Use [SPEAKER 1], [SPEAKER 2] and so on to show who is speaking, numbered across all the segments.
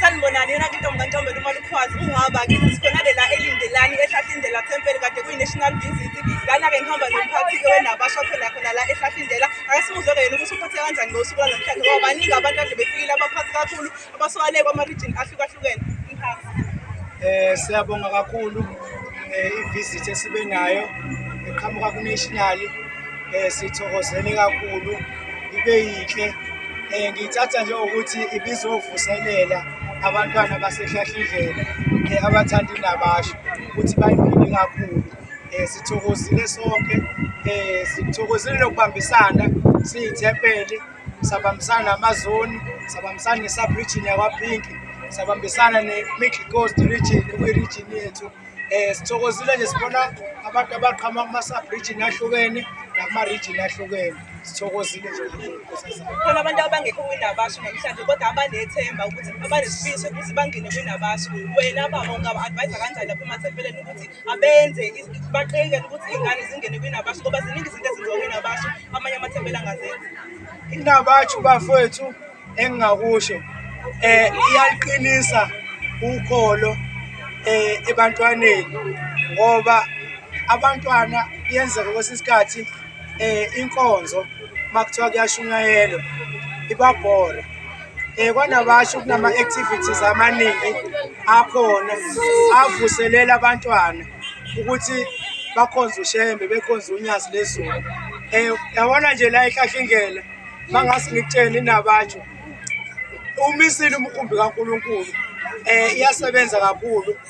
[SPEAKER 1] sanibonani yona ke intombi kantombela uma lukwazi ukuhamba kithi sikhona lela elindelani ehlahla indlela thempeli kade kuyi-national visit lana-ke ngihamba nomphathi-ke wenabasha khona khona la ehlahla indlela akasimuzwe-ke yena ukuthi uphathe kanjani ngosuku lwanamhlanje ngoba baningi abantu ade befikile abaphathi kakhulu abaswale
[SPEAKER 2] kwama-region ahlukahlukene umphakathi eh siyabonga kakhulu eh ivisit esibe nayo eqhamuka kunational eh sithokozele kakhulu ibe yinhle eh ngithatha nje ukuthi ibizovuselela abantwana basehlahlindlela eh abathanda indabasho ukuthi bayiphile kakhulu eh sithokozile sonke eh sithokozile lokubambisana siyithempeli sabambisana namazoni sabambisana ne-subregion yakwaphinki sabambisana ne-middle coast region kwi-region yethu um eh, sithokozile nje sibona abantu abaqhama kuma-subregion ahlukene nakuma-region ahlukene sithokozile nje khona abantu
[SPEAKER 1] abangekho kwinabasu namhlanje kodwa abanethemba ukuthi abanesifiso ukuthi bangene kwinabasu wena baba ungaba-advayisa kanjani lapho emathempeleni ukuthi abenze is- baqikele ukuthi iy'ngane zingene kwinabasho
[SPEAKER 2] ngoba ziningi izinto ezenziwa kwinabasho amanye amathempela angazenzi Inabathu bafowethu engingakusho eh iyaliqinisa ukholo eh ebantwaneni ngoba abantwana kuyenzeka kwesinye isikhathi eh inkonzo makuthiwa kuyashunyayelwa ibabhora um kwanabasho kunama-activities amaningi akhona avuselela abantwana ukuthi bakhonze ushembe bekhonze unyazi lezulu um yabona nje la ehlahlingela uma ngase ngikutsheni inabatsho umisile umkhumbi kankulunkulu um iyasebenza kakhulu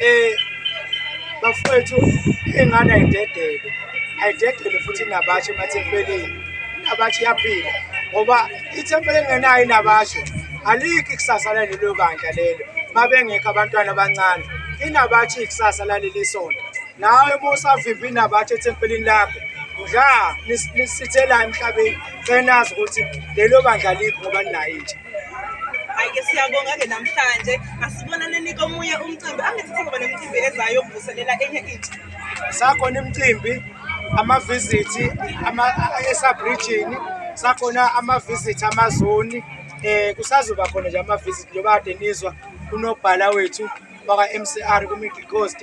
[SPEAKER 2] Eh bafowethu ingane ayidedele ayidedele futhi inabashe emathempelini inabashe iyaphila ngoba ithempeli engenayo inabashe alikho ikusasa lalelo bandla lelo mabengekho abantwana abancane inabathi ikusasa laleli sonto nawe uma usavimba inabathi ethempelini lakho udla lisithela emhlabeni cenazi ukuthi lelo bandla likho ngoba linayo intsha Ayike
[SPEAKER 1] siyabonga-ke namhlanje asibonaneni komunye umcimbi angithi sekuba nemicimbi ezayo yokuvuselela enye intsha sakhona
[SPEAKER 2] imicimbi amavizithi esabrijini sakhona amavizithi amazoni um kusazoba khona nje amavizithi njengoba kade nizwa unobhala wethu bakwa-mcr ku-middle coast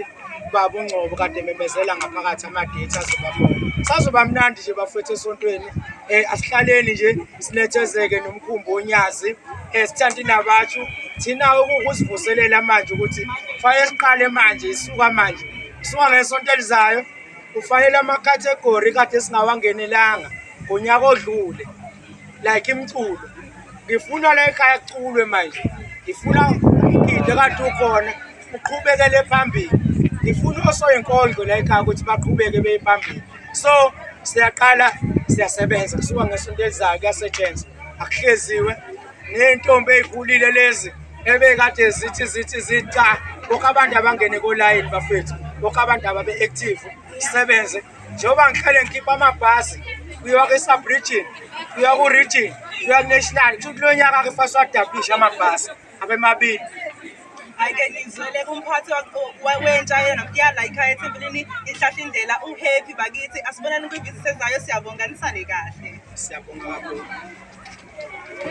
[SPEAKER 2] ubaba ungcobo kade memezela ngaphakathi amadethi azobakhona sazoba mnandi nje bafethu esontweni um asihlaleni nje sinethezeke nomkhumbi onyazi um sithanda inabathu thina ukuzivuselela manje ukuthi kufanele siqale manje isuka manje isuka ngesonto elizayo kufanele amakhathegori kade singawangenelanga ngonyaka odlule like imculo ngifuna la ekhaya kuculwe manje ngifuna umgidi kade ukhona uqhubekele phambili ngifuna osoyinkondlo la ekhaya ukuthi baqhubeke beye phambili so siyaqala siyasebenza kusuka ngesonto elizayo kuyasetshenzwa akuhleziwe ney'ntombi ey'khulile lezi ebekade zithi zithi zica bonke abantu abangene kolayini bafethu bonke abantu ababe-active sisebenze njengoba ngihlale ngikhipha amabhasi kuyiwa kwi-subregin kuyiwa ku-region kuyiwa ku-national kusho ukuthi kulo nyaka ke fase wadablisha amabhasi abemabili ayike
[SPEAKER 1] ngizwele kumphathi wentsha yena kuyala ikhaya ethempelini inhlahla indlela uhappy bakithi asibonani kwivisit ezayo siyabonga nisale
[SPEAKER 2] kahle
[SPEAKER 1] siyabonga
[SPEAKER 2] kakhulu